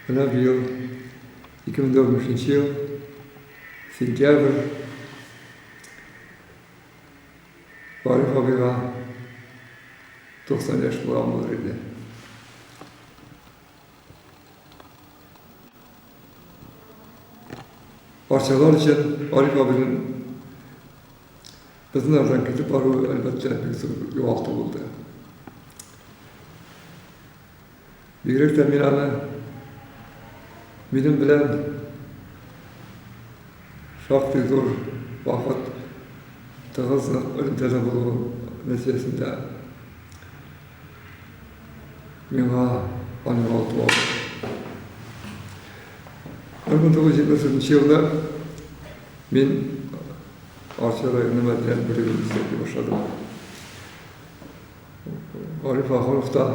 Менә быел, 2015 нче ел, сентябрь, Вариф абыйга 90 яшь тулган булыр иде. Арчалар өчен Вариф абыйның безнең арадан китеп баруы, әлбәттә, бик зур югалту булды. Бигрәк тә мин аны минем белән шактый зур вакыт тыгыз нык элемтәдә булуы нәтиҗәсендә миңа аны югалту алды. Бер мең тугыз йөз җитмеш дүртенче елда мин Арча районы мәдәният бүлегендә эшли башладым. Гариф Ахунов та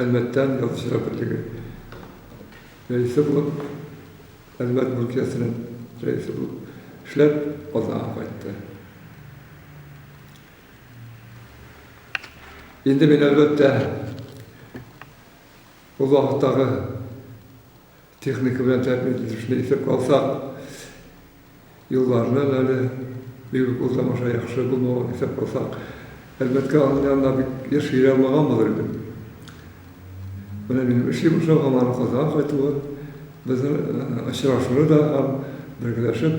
Әлмәттән Язучылар берлеге рәисе булып, Әлмәт Мөлкиясенең рәисе булып эшләп, Казанга кайтты. Инде мин, әлбәттә, ул вакыттагы Техника белән тәэмин ителешне исәпкә алсак, юлларның әле бик үк ул тамаша яхшы булмавын исәпкә алсак, әлбәттә, аның янына бик еш йөри алмаган булыр идем. Менә минем эшли башлавым һәм аның Казанга кайтуы безнең очрашуны да һәм бергәләшеп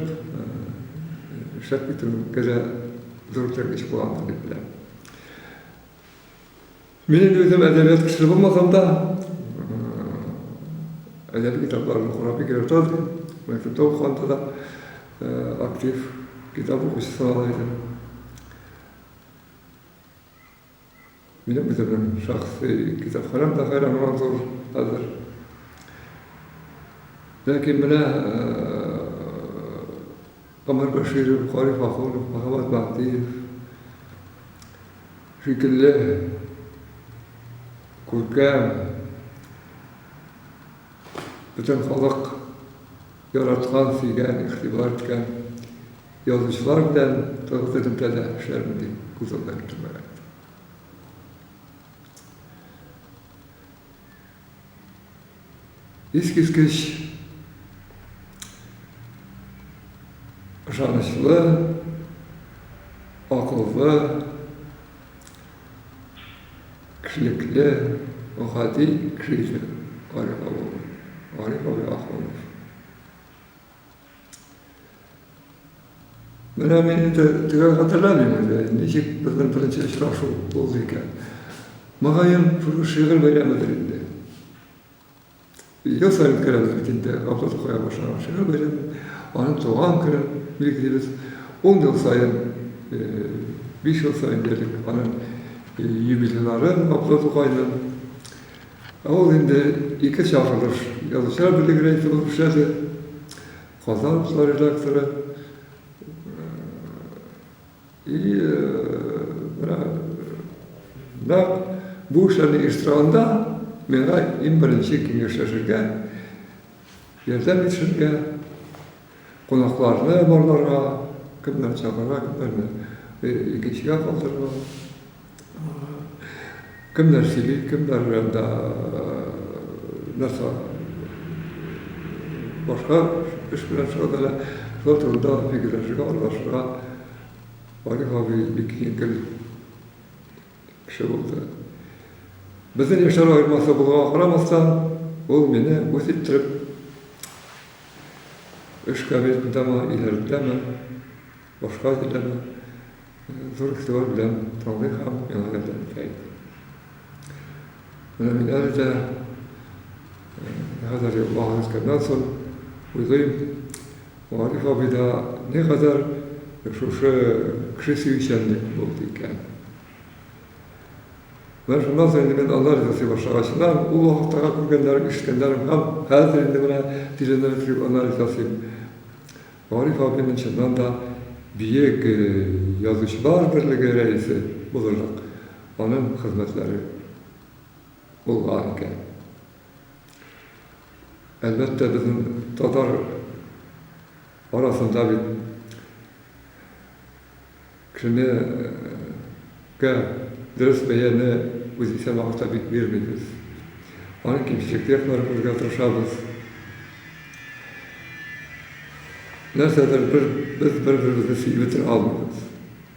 эшләп китүгә дә зур этәргеч булгандыр дип беләм. Мин инде үзем әдәбият кешесе булмасам да, әдәби китапларны карап бик ярата идем. Мәктәптә укыганда да актив китап укучысы санала идем. Минем үземнең шәхси китапханәм дә хәйран булган зур хәзер. Ләкин менә Гомәр Бәширов, Кари Фахунов, Мөхәммәт Мәһдиев шикелле күркәм, бөтен халык яраткан, сөйгән, игътибар иткән язучылар белән тагын элемтәдә эшләрмен дип күз алдына китермәгән идем. Искиткеч ышанычлы, акыллы, кешелекле, гади кеше иде Гариф абый. Гариф абый Ахунов. Менә мин инде төгәл хәтерләмим инде, ничек безнең беренче очрашу булды икән. Мөгаен, шушы шигырь бәйрәмедер инде. Ел саен үткәрәбез бит инде Габдул Тукай башланган шигырь бәйрәмен, аның туган көнен билгелибез. Ун ел саен, биш ел саен диярлек аның юбилейларын Габдул Тукайның. Ул инде ике чагылыш язучылар берлеге рәисе булып эшләде, Казан утлары редакторы. И менә нәкъ бу эшләрне оештыру анда миңа иң беренче киңәшләшергә, ярдәм итешергә, Кунакларны барларга кемнәр чакыра, кемнәрне икенчегә калдырыла. Кемнәр сөйли, кемнәр да нәрсә башка эш белән шөгыльләнә. Шулар турында фикерләшергә, аралашырга Валих абый бик җиңел. кеше булды. Безнең яшьләр аермасы булганга карамастан, ул мине үз иттереп эш кабинетындамы, өйләрендәме, башка җирдәме, зур игътибар белән тыңлый һәм миңа ярдәм итә иде. Менә мин әле дә хәзер вакыт үткәннән соң уйлыйм, Гариф абыйда никадәр шушы кеше сөючәнлек булды икән. Менә шуннан соң инде мин анализ ясый башлагачыннан, ул вакыттагы күргәннәрем, ишеткәннәрем һәм хәзер инде менә тирәнрәк кереп анализ ясыйм. Гариф абыйның чыннан да биек язучылар берлеге рәисе булырлык аның хезмәтләре булган икән. Әлбәттә, безнең татар арасында бит кешенегэ дөрес бәяне үзенчә вакытта бит бирмибез. Аның кимчелекле якларын күрергә тырышабыз. Нәрсәдер бер, без бер-беребезне сөеп бетерә алмыйбыз.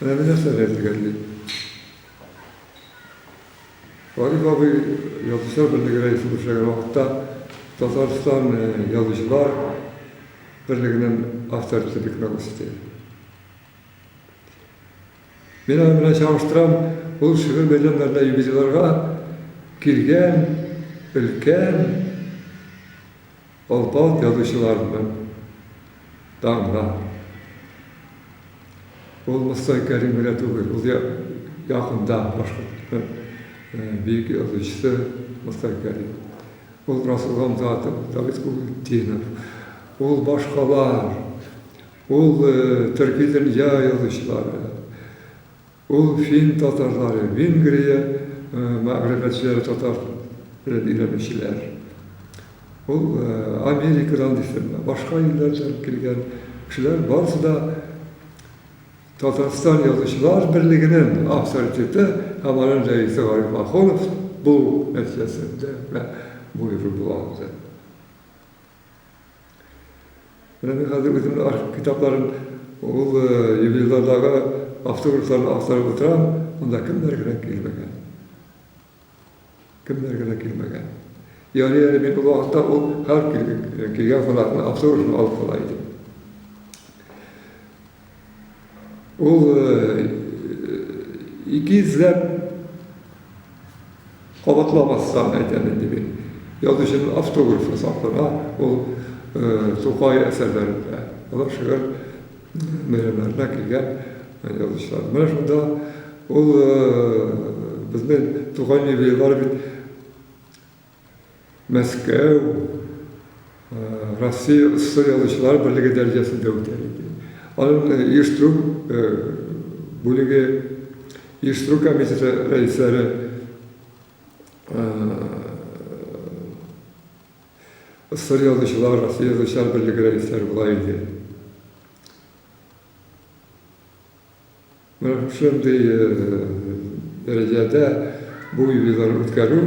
Менә мөнәсәбәт дигән бит. Гариф абый Язучылар берлеге рәисе булып эшләгән вакытта Татарстан Язучылар берлегенең авторитеты бик нык үсте. Мин аның белән чагыштырам, ул шигырь бәйрәмнәренә, юбилейларга килгән өлкән Алпавыт язучыларының таңга. Ул Мостай Кәрим генә түгел, ул якында башкортның бөек язучысы Мостай Кәрим. Ул Расул Гамзатов, Давид Кугутдинов, ул башкалар, ул төрки дөнья язучылары. Ул фин татарлары, Венгрия мәгърифәтчеләре татар телен өйрәнүчеләр. Ул Америкадан дисем, башка илләрдән килгән кешеләр барысы да Татарстан язучылар берлегенең авторитеты һәм аның рәисе Гариф Ахунов булу нәтиҗәсендә генә бу юлы була алды. Менә мин хәзер үземнең архив китапларын ул ювелирлардагы автографларны актарып утырам, монда кемнәр генә килмәгән. Кемнәр генә килмәгән. Ярый әле мин ул вакытта ул һәр килгән кунакның автографын алып кала идем. Ул ике йөзләп кабатламастан әйтәм инде мин. Язучының автографы саклана ул Тукай әсәрләрендә. Алар шигырь бәйрәмнәренә килгән язучылар. Менә шунда ул безнең Тукай юбилейлары бит Мәскәү, Россия сср язучылар берлеге дәрәҗәсендә үтә иде. Аның оештыру бүлеге, оештыру комитеты рәисләре сср язучылар, Россия язучылар берлеге рәисләре була иде. Шундый дәрәҗәдә бу юбилейны үткәрү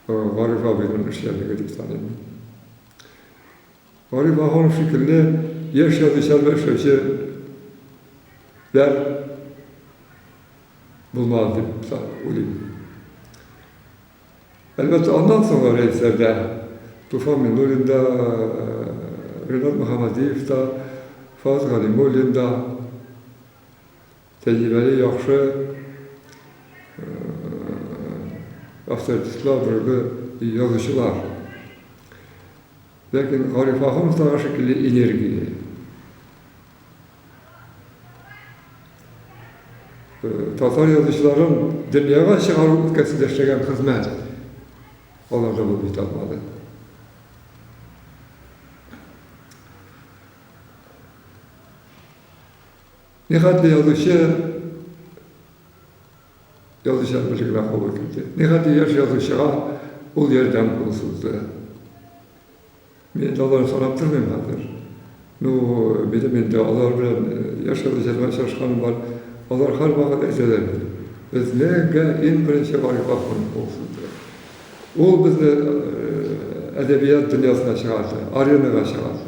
Гариф абыйның эшчәнлеге дип саныйм мин. Гариф абый шикелле яшь язучылар эшләүче дәр булмады дип уйлыйм. Әлбәттә, аннан соңгы рәисләрдә Туфан Минуллин да, Ренат Мөхәммәдиев та, Фараз Галимуллин да, тәҗрибәле, яхшы авторитетлар, дөрбе язучылар. Ләкин Гариф Ахуновтагы шикелле энергия, Татар язучыларын дөньяга чыгару өлкәсендә эшләгән хезмәт аларда булып бит алмады. Нихәтле язучы язучылар берлегенә кабул итте. Нихәтле яшь язучыга ул ярдәм кулы сузды. Мин инде алай карап тормыйм хәзер. Ну, минем инде алар белән яшәү җырга чыгышканым бар. Алар һәрвакыт әйтәләр бит, Безнең иң беренче Гариф Ахунов булсын, дип. Ул безне әдәбият дөньясына чыгарды, аренага чыгарды.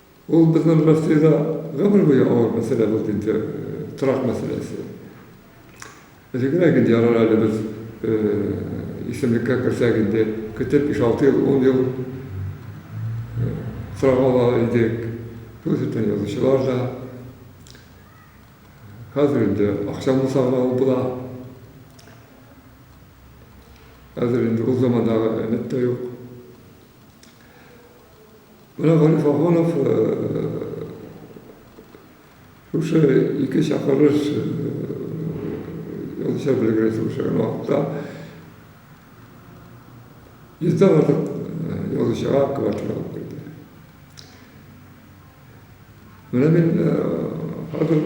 Ул безнең Россиядә гомер буе авыр мәсьәлә булды инде, торак мәсьәләсе. Элегрәк инде ярар әле без исемлеккә керсәк инде, көтеп биш-алты ел, ун ел торак ала идек. Шул исәптән язучылар да. Хәзер инде акча булса гына ул була. Хәзер инде ул замандагы өмет тә юк. Менә Гариф Ахунов шушы ике чакырыш язучылар берлегенә чыгыш ясаган вакытта йөздән артык язучыга квартира алып бирде. Менә мин хәзер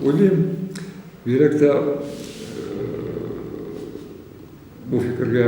уйлыйм, бигрәк тә бу фикергә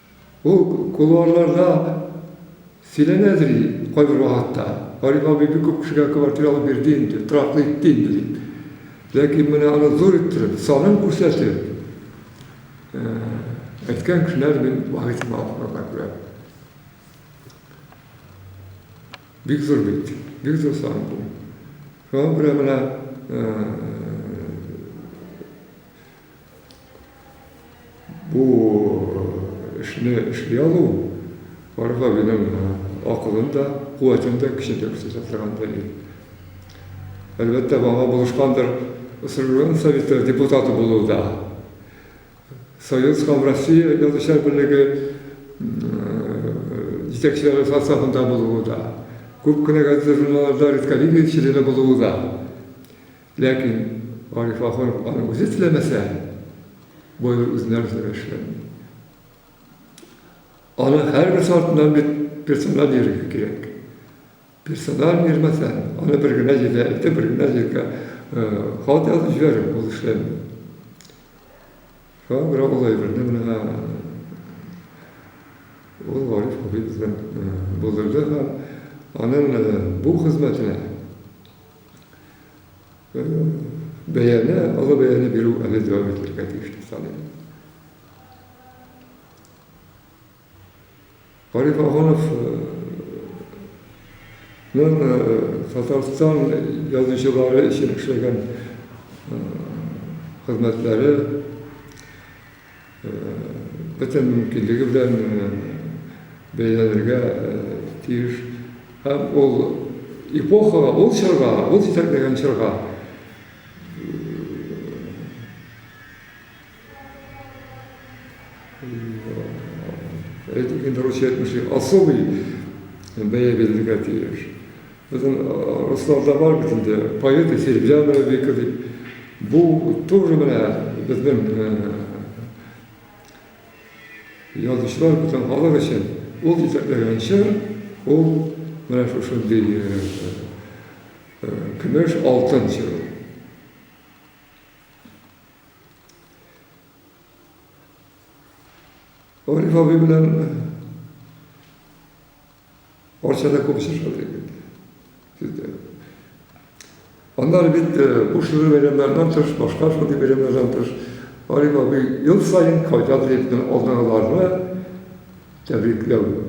Ул кулуарларда сөйләнәдер инде кайбер вакытта. Гариф абый бик күп кешегә квартира алып бирде инде, тораклы итте инде дип. Ләкин менә аны зур иттереп, санын күрсәтеп әйткән кешеләр мин бары тик балаларда күрәм. Бик зур бит, бик зур сан бу. Шуңа күрә менә Бу эшне эшли алу Марфа минем акылым да, куәтем дә, көчем дә күрсәтә торган дәлил. Әлбәттә, мага булышкандыр Сыргырын советы депутаты булу да. Союз һәм Россия язучылар берлеге җитәкчеләре составында булуы да, күп кенә газета-журналларда редколлегия члены булуы да. Ләкин Гариф Гафуров аны үзе теләмәсә, болай үзенә үзе генә эшләми. Аның һәрберсе артыннан бит персональ йөрергә кирәк. Персональ йөрмәсәң, аны бер генә җиргә илтеп, бер генә җиргә хат язып җибәреп ул эшләми. Шуңа күрә ул әйберне менә ул Гариф абый бездән булдырды һәм аның бу хезмәтенә бәяне, олы бәяне бирү әле дәвам ителергә тиеш дип саныйм. Гариф Агонов Татарстан язучылары өчен эшләгән хезмәтләре бөтен мөмкинлеге белән бәяләнергә тиеш. Һәм ул эпохага, ул чорга, ул җитәкләгән чорга әйтик инде русча әйтмешли, особый бәя бирергә тиеш. Безнең русларда бар бит инде, поэты Серебрянова Вика дип. Бу тоже менә безнең язучылар бүтән халык өчен ул җитәкләгән чор, ул менә шушындый көмеш алтын чоры. Ариф абый белән Арчада күбесе шулай икән. Аннары бит буш йөрү бәйрәмнәреннән тыш, башка шундый бәйрәмнәрдән тыш, Ариф абый ел саен кайтады дип кенә алдагыларны тәбрикләү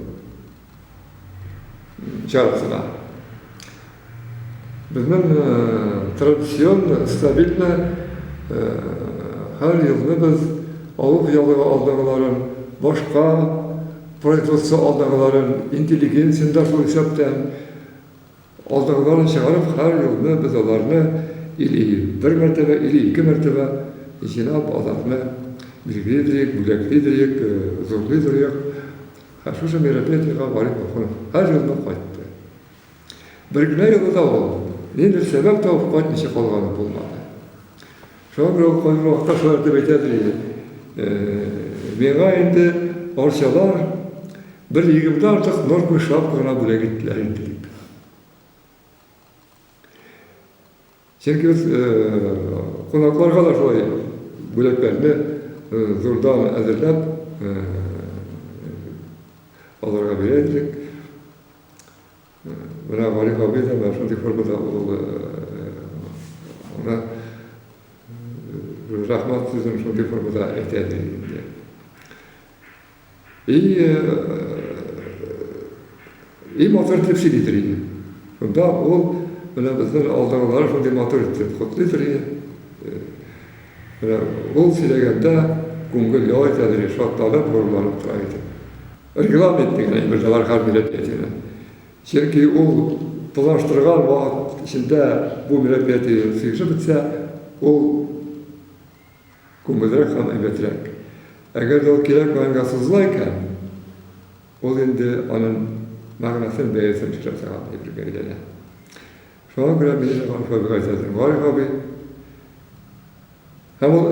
чарасына. Безнең традицион, стабильно һәр елны без авыл ялыгы алдагыларын, башка производство алдагыларын, интеллигенцияне дә шул исәптән алдагыларын чыгарып, һәр елны без аларны или бер мәртәбә, или ике мәртәбә җыйнап, аларны билгели диек, бүләкли диек, зурлый диек. Һәм шушы мероприятиегә Валит Махмүтов һәр елны кайтты. Бер генә юлы да ул, нидер сәбәп табып кайтмыйча калганы булмады. Шуңа күрә ул кайбер вакытта шулай дип әйтәдер иде. Миңа инде арчалар бер егерме артык норкой шапка гына бүләк иттеләр инде дип. Җиргез кунакларга да шулай бүләкләрне зурдан әзерләп аларга бирә идек. Менә Гариф абый да менә шундый формада ул аңа рәхмәт сүзен шундый формада әйтә иде. И и матур итеп сөйлидер иде. Монда ул менә безнең алдагылары шундый матур итеп котлыйдыр иде. Менә ул сөйләгәндә күңел ял итәдер, шатланып, горурланып тора иде. Регламент дигән әйбер дә бар һәр милләт ятиенә. Чөнки ул планлаштырган вакыт эчендә бу милләт ятиен сөйләшеп бетсә, ул күңелрәк һәм әйбәтрәк. Әгәр дә ул кирәк уенга сузыла икән, ул инде аның мәгънәсен, бәясен төшерә торган әйбергә әйләнә. Шуңа күрә мин инде Гариф абыйга әйтә идем, Гариф абый, һәм ул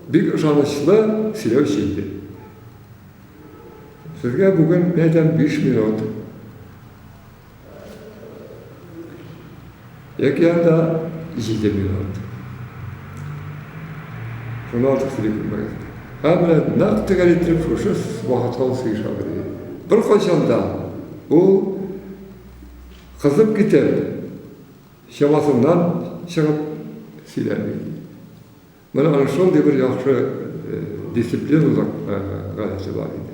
бик ышанычлы сөйләүче иде. Сезгә бүген, мин әйтәм, биш минут. Океанда җиде минут. Шуннан артык сөйли күрмәгез. Һәммә нәкъ тегәл итеп шушы вакытка ул сөйшә бирде. Беркайчан да ул кызып китеп, чамасыннан чыгып сөйләми. Менә аның шундый бер яхшы дисциплинлык гадәте бар иде.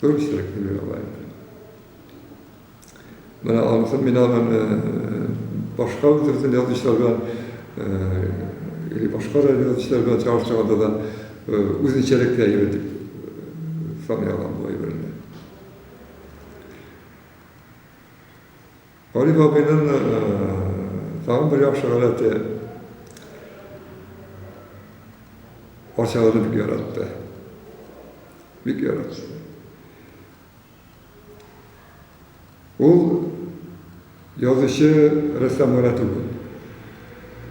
Дөресрәк дип уйлыйм. Менә анысы мин аны башка үтерсен язучылар белән или башка язучылар белән чагыштырганда да үзенчәлекле әйбер дип саный алам бу әйберне. Гариф абыйның тагын бер яхшы гадәте, фатиханы бик яратты. Бик яратты. Ул язучы рәссам гына түгел,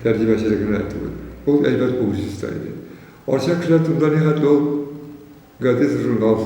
тәрҗемәче генә түгел. Ул әйбәт публицист та иде. Арча кешеләр турында нихәтле ул газета-журнал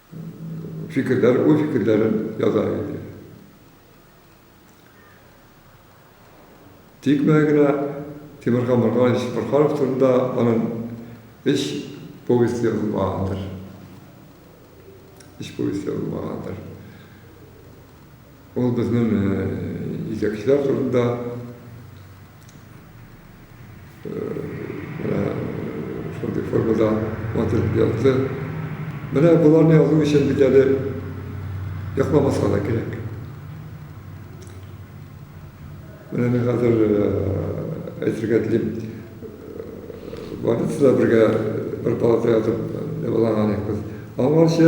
фикерләр, уй-фикерләрен яза иде. Тик менә генә Тимурхан Морганович Борханов турында аның өч повесте язылмагандыр. Өч повесть язылмагандыр. Ул безнең җитәкчеләр турында Менә шундый формада матур итеп язды. Менә боларны язу өчен бит әле йокламаска да кирәк. Менә мин хәзер әйтергә телим, больницада бергә бер палатада ятып дәваланган идек без. Аңарчы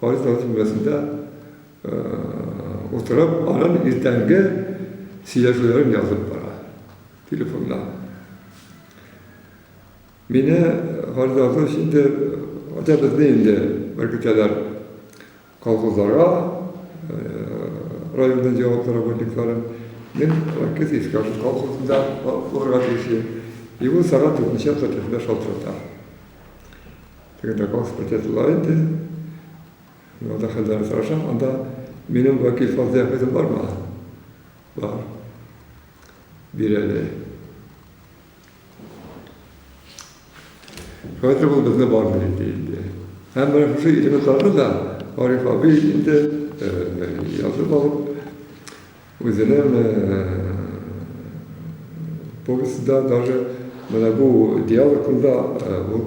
Халык тагын түбәсендә утырып, анын иртәнге сөйләшүләрен язып бара, телефонда. Мине Халык тагын инде, хәтта безне инде бер көтәләр колхозларга, районның җаваплы работниклары. Мин Лакит Искашев колхозында булырга тиеш идем. И ул сәгать дүртенче кырык бишендә шалтырата. Когда Господь отладит, но да хәлләр сорашам, анда минем вәкил фазлы әфәдем бар ма? Бар. Бирәле. Хәзер ул безне бар бери диелде. Һәм менә шушы илеметларны да Ариф абый инде язып алып, Үзенең повестьда даже менә бу диалогында ул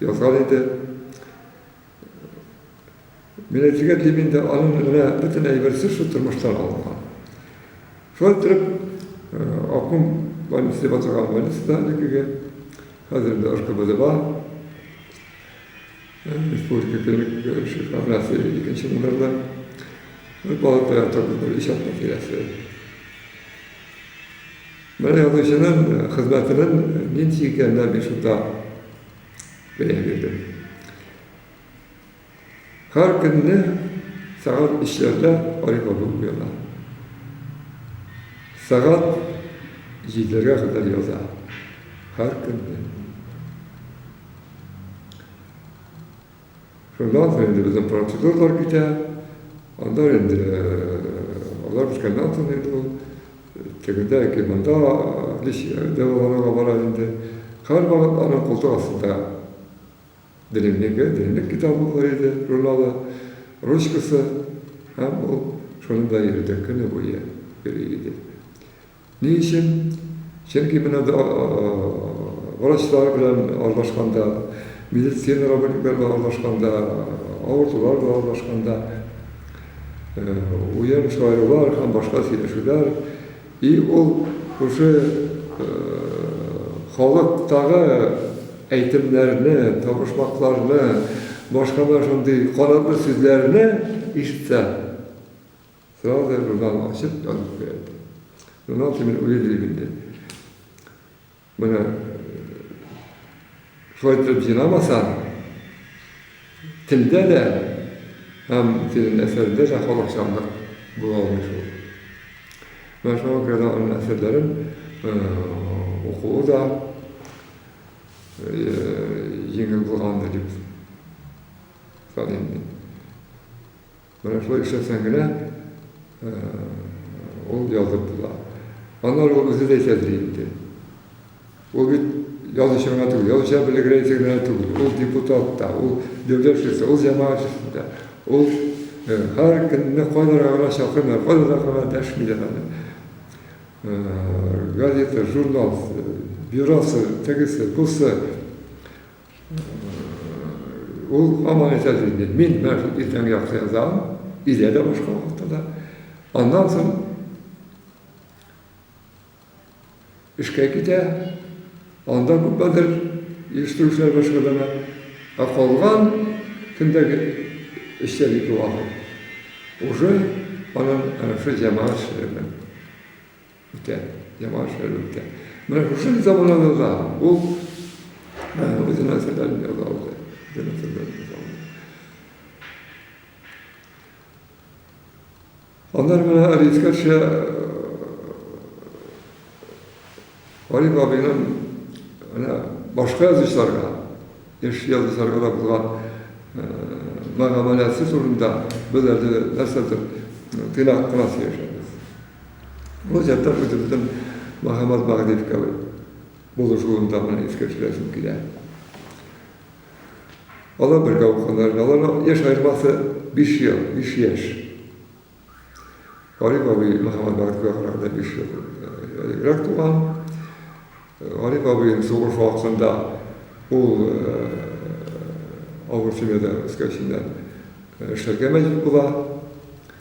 язган иде. Мин әйтергә телим инде, аның менә бөтен әйберсе шул тормыштан алынган. Шулай итеп, Аккум больница дип аталган больницада әлегеге, хәзер инде РКБДда. Республика Көнлек күренеше формация икенче номерлы бер палатага торды, бер иҗат мәкәләсе. Менә язучының хезмәтенең нинди икәненә мин шунда бәя бирдем. Һәр көнне сәгать өчләрдә Арифабы уяна. Сәгать җиделәргә кадәр яза. Һәр көнне. Шуннан соң инде безнең процедуралар китә. Анда инде алар беткәннән соң инде ул тегендә яки монда дәваланырга бара инде. Һәрвакыт аның култык астында дневнигы, дневник китабы бар иде, журналы, ручкасы һәм ул шуның белән йөрде, көне буе йөри иде. Ни өчен? Чөнки менә врачлар белән аралашканда, медицина работниклары белән аралашканда, авыртулар белән аралашканда, уен чыгарулар һәм башка сөйләшүләр, и ул шушы халыктагы әйтемнәрне, табышмакларны, башка да шундый канатлы сүзләрне ишетсә, Сразу да журнал ачып язып куя иде. Журнал кемдер үзе дилеп инде. Менә шулай итеп җыйнамаса, телдә дә һәм тирен әсәрдә дә халыкчанлык була алмый шул. Менә шуңа күрә дә аның әсәрләрен укуы да җиңел булгандыр дип саныйм мин. Менә шулай эшләсәң генә ул язып була. Аннары ул үзе дә әйтәдер инде. Ул бит язучы гына түгел, язучылар берлеге рәисе генә түгел, ул депутат та, ул дәүләт эшчесе, ул җәмәгать эшчесе дә. Ул һәр көнне кайларга гына чакырмыйлар, кайларга гына дәшмиләр аны. Газета, журнал, бюросы, тегесе, бусы. Ул һаман әйтә инде, мин менә шул иртәнге якта язам, өйдә дә башка вакытта да. Аннан соң эшкә китә, анда күпмедер ештерүчеләр башкарына, ә калган көндәге эчтәлекле вакыт уже анын ана шул җәмәгать эшләре белән. Үтә, яман эшләр үтә. Менә шушы заманабызда ул үзенә сәләм язалды. Үзенә сәләм язалды. Аннары менә Рискача Гариф абыйның менә башка язучыларга, яшь язучыларга да булган мәгамәләсе турында без әле нәрсәдер тыйнак кына сөйләшәбез. Бу заттан үзебезнең Мохаммад Магдевка булышуында гына искә төшерәсем килә. Алар бергә укыганнар, аларның яшь аермасы 5 ел, 5 яшь. Гариф абый Мохаммад Магдевка караганда 5 ел элегрәк туган. Гариф абыйның сугыш вакытында ул авыр семьяда үскәченнән эшләргә мәҗбүр була.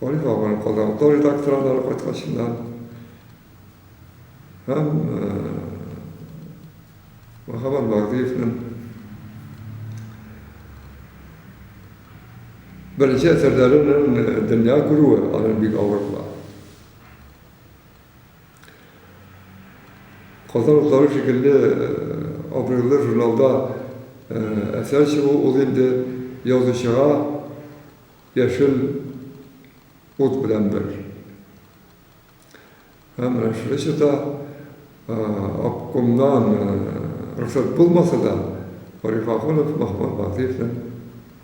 Ольга абыны Казанга редакторлары кайткачыннан һәм Мөхәммәт Багдыевның беренче әсәрләренең дөнья күрүе аны бик авыр була. Казан утлары шикелле абруйлы журналда әсәр чыгу ул инде язучыга Яшел ут белән бер. Һәм Мәҗлесе дә обкомнан рөхсәт булмаса да, Гариф Ахунов Махмуд Батыевның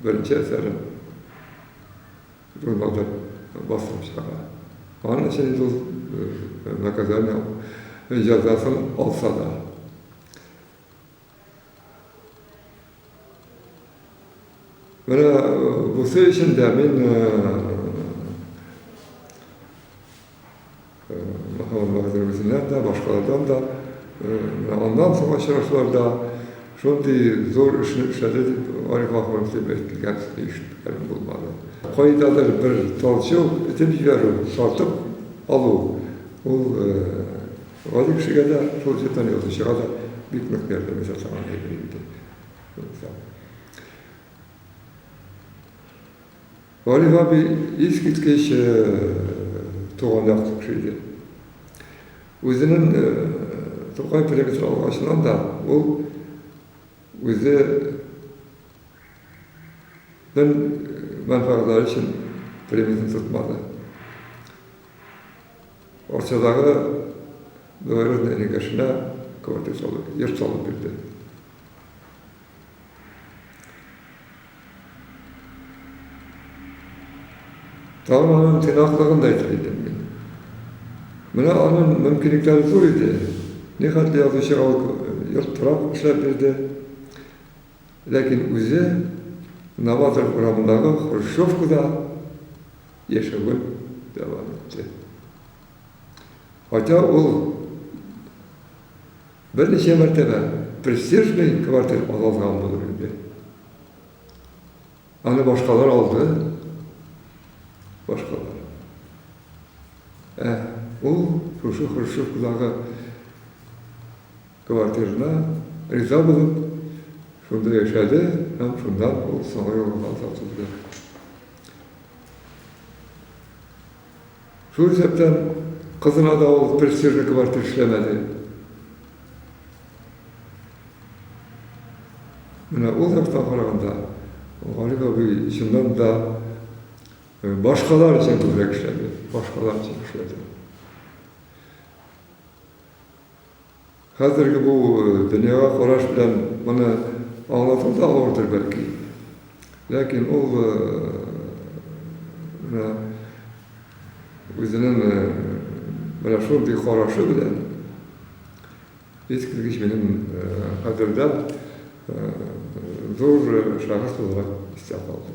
беренче әсәрен журналда бастырып чыгара. Аның өчен инде ул наказание, җәзасын алса да. Менә бусы өчен дә мин үзеннән дә, башкалардан да, аннан соң очрашларда шундый зур эшне эшләде дип, Ариф Ахунов дип әйтелгән ишеткәнем булмады. Кайдадыр бер талчу, этеп җибәрү, тартып алу, ул Гади кешегә дә шул җырдан язучыга да бик нык ярдәм итә торган әйбер инде. Гариф абый искиткеч туган як кеше иде. Үзенең Тукай проекты алгачыннан да ул үзе мәнфәгатьләре өчен премиясен тотмады. Арчадагы Благородная Регашына квартир салып, йорт салып бирде. Тагын аның тыйнаклыгын да әйтер идем мин. Менә аның мөмкинлекләре зур иде. Нихәтле язучыга ул йорт торак эшләп бирде. Ләкин үзе Новатор урамындагы хрущевкада яшәвен дәвам итте. Хотя ул берничә мәртәбә престижный квартир ала алган булыр иде. Аны башкалар алды. Башкалар. Ә ул шушы хрущевкадагы Квартирына риза булып, шунда яшәде һәм шуннан ул Самай авылына тартылды. Шул исәптән кызына да ул престижный квартир эшләмәде. Менә ул яктан караганда Галим абый чыннан да э, башкалар өчен күбрәк эшләде, башкалар өчен эшләде. Хәзерге бу дөньяга караш белән моны аңлату да авырдыр бәлки. Ләкин ул менә үзенең менә шундый карашы белән искиткеч минем кадердә зур шәхес буларак истә калды.